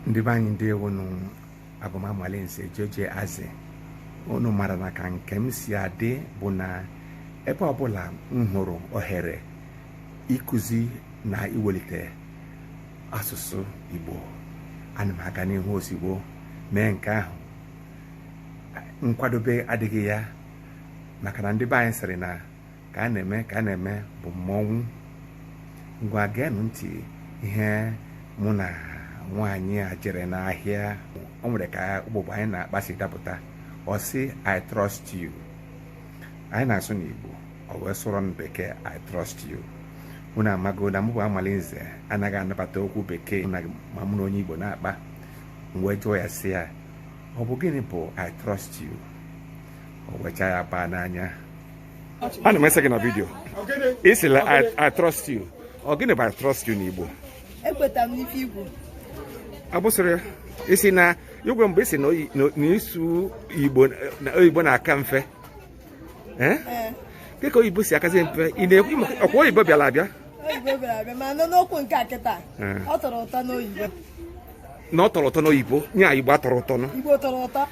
ndị be anyị ndewo nụ abụ m amalinze jeje aze unu mara na ka nke m si adị bụ na ebe ọbụla m hụrụ ohere ịkụzi na iwelite asụsụ igbo ana m aga n'ihu ozigbo mee nke ahụ nkwadobe adịghị ya maka na ndị be anyị sịrị na ka a na-eme ka a na-eme bụ mmọnwụ ngwa geenụ ntị ihe mụ na nwaanyị a jere n'ahịa o nwere ka ụbụbọ anyị na-akpa si dapụta ọ sị i trust you anyị na-asụ n'igbo ọ wee sụọrọ m bekee i trust you unu amago na mụ bụ amalinze anaghị anabata okwu bekee ma mụ na onye igbo na-akpa m wee jụọ ya sị ya ọ bụ gịnị bụ i trust you o wee chaa ya paa n'anya ana m ese gị na vidio ị sị na I trust you ọ gịnị bụ I trust you n'Igbo ekweta m n'ife igbo abụsịrị isi na igwe mgbe ị sị na ịsụ oyibo na-aka mfe eh? Eh. dịka oyibo si akazi mfe ị na-ekwu ọkwa oyibo bịara abịa oyibo bịara abịa mana n'okwu nke a kịta eh. ọ tọrọ ụtọ n'oyibo na ọ tọrọ ụtọ n'oyibo nya igbo atọrọ ụtọ igbo tọrọ ụtọ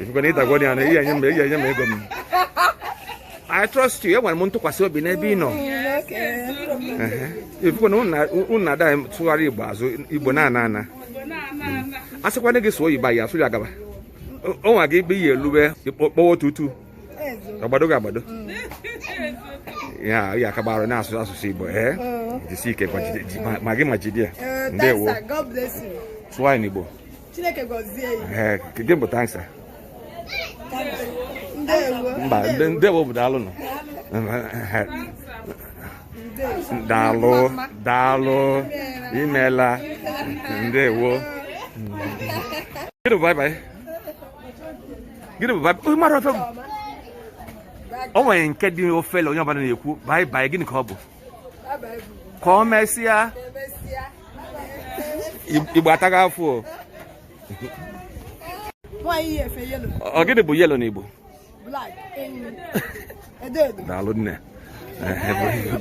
ị fụkwa na ị dagwo ya na i ye-enye m i ye-enye m ego m I trust you enwere m ntụkwasị obi n'ebe ị nọ ị fụkwa na unu na-ada tụgharị igbo azụ igbo na-ana ana a sịkwana gị sụọ oyibo ya asụ ya gaba o nweghị ebe i ye-elube kpọwa tutu agbado gị agbado ya ị akaba arụ na-asụ asụsụ igbo ee jisi ike gwa jide- ji- ma- ma gị ma jide ya ndewo sụọ anyị n'igbo Chineke gọzie ya. ee gịnị bụ thank sir Ndewo. mba nde- ndewo bụ daalụ nọ daalụ daalụ imeela ndewo gịnị bụ bye bye gịnị bụ bye bye onye mara ife ọ bụ o nwere nke dị ofele onye ọbụla na-ekwu bye bye gịnị ka ọ bụ ka o mesịa igbo ataghị afọ o. ọ gịnị bụ yellow na igbo daalụ nne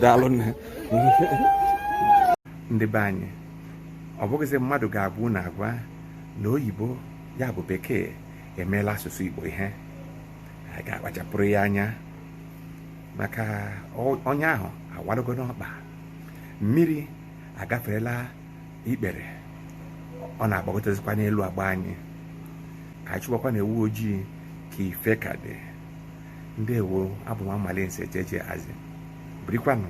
daalụ nne ndị be anyị ọ bụghịzi mmadụ ga-agwa unu agwa na oyibo ya bụ bekee emeela asụsụ igbo ihe a ga-akpachapụrụ ya anya maka ọnya ahụ awalugo n'ọkpa mmiri agaferela ikpere ọ na-agbagotezikwa n'elu agba anyị ka anyị chụbakwanụ ewu ojii ka ife ka dị ndewo abụ m Amalinze jeje azi birikwanụ